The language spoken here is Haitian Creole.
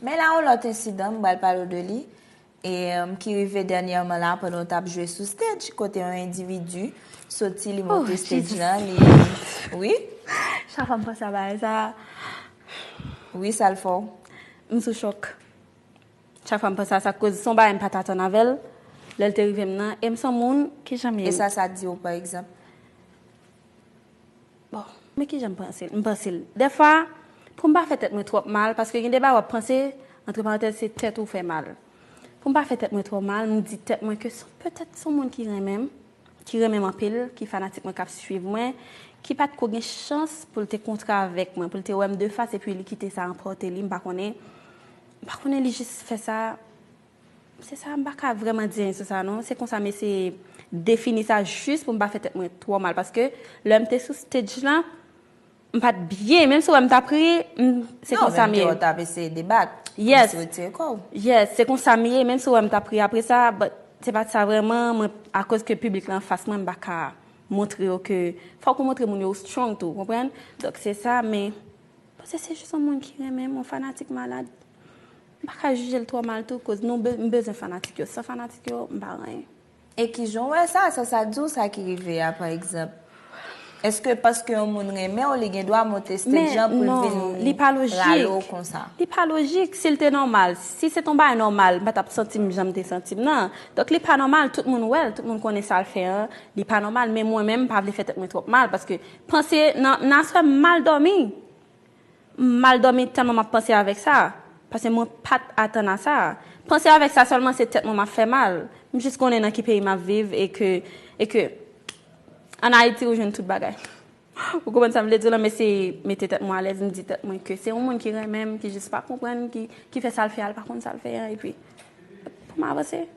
Men la yon lòt ensidan m pral pale w de li, e ki rive dènyèman la pandan w t ap jwe sou stage, kote yon endividi soti li monte stage lan, li, wi. Chak fwa m panse a bagay sa a. Wi, sa l fè w? M sou chòk. Chak fwa m panse a sa koz se yon bagay m pa t atann avè l, lè l te rive m nan, e m s on moun ki janm ye. E sa sa di w pa egzanp? Bon, men kijan m panse l. M panse l. Dèfwa, pou m pa fè tèt mwen twòp mal, paske gen de bagay w ap panse, antre parantèz, se tèt ou w fè mal. Pou m pa fè tèt mwen twò mal, m di tèt mwen ke son petèt son moun ki renmen m, ki renmen m anpil, ki fanatik mwen, k ap suiv mwen, ki pa t ko gen chans pou l te kontre avèk mwen, pou l te wè m de fas epi li kite sa anpòte li, m pa konnen. M pa konnen li jis fè sa Se sa, m pa ka vrèman di anyen sou sa non. Se konsa m eseye defini sa jis pou m pa fè tèt mwen twò mal paske lè m te sou stage lan, m pa t byen. Menm si w wè m t ap ri, m, se konsa m ye. Non, menm tou w t ap eseye debat. Yes. Kòmsi w retire kò w. Yes, se konsa m ye. Menm si w wè m t ap ri apre sa, but se pa t sa vrèman. Mwen, akoz ke piblik la anfas mwen, m pa ka montre yo ke, fòk ou montre moun yo ou strong tou, konprann? Donk se sa, men, m panse se jis yon moun ki renmen m, yon fanatik malad. M pa ka jijel twò mal tou koz nou m bezwen fanatik yo san fanatik yo m pa anyen. E kijan w wè sa, sa sa di w sa ki rive a pa egzanp? Eske paske yon moun renmen w li gen dwa monte stage lan pou l vin rale w konsa? Li pa lojik, si l te nòmal, si se te yon bagay nòmal m pa tap santi m jan m te santi m nan. Donk li pa nòmal, tout moun wè l, tout moun konnen sa l fè an, li pa nòmal men mwen menm m pa vle fè tèt mwen twòp mal paske panse nan aswè m mal dòmi. M mal dòmi tèlman m ap panse avèk sa, pase mwen pa t atann a sa. Panse avèk sa sèlman se tèt mwen m ap fè mal. M jis konnen nan ki peyi m ap viv e ke, e ke an Ayiti ou jwenn tout bagay. Ou konprann sa m vle di w la? M eseye mete tèt mwen alèz, m di tèt mwen ke se yon moun ki renmen m, ki jis pa konprann, ki fè sa l fè a, l pa konn sa l fè a, epi pou m avanse.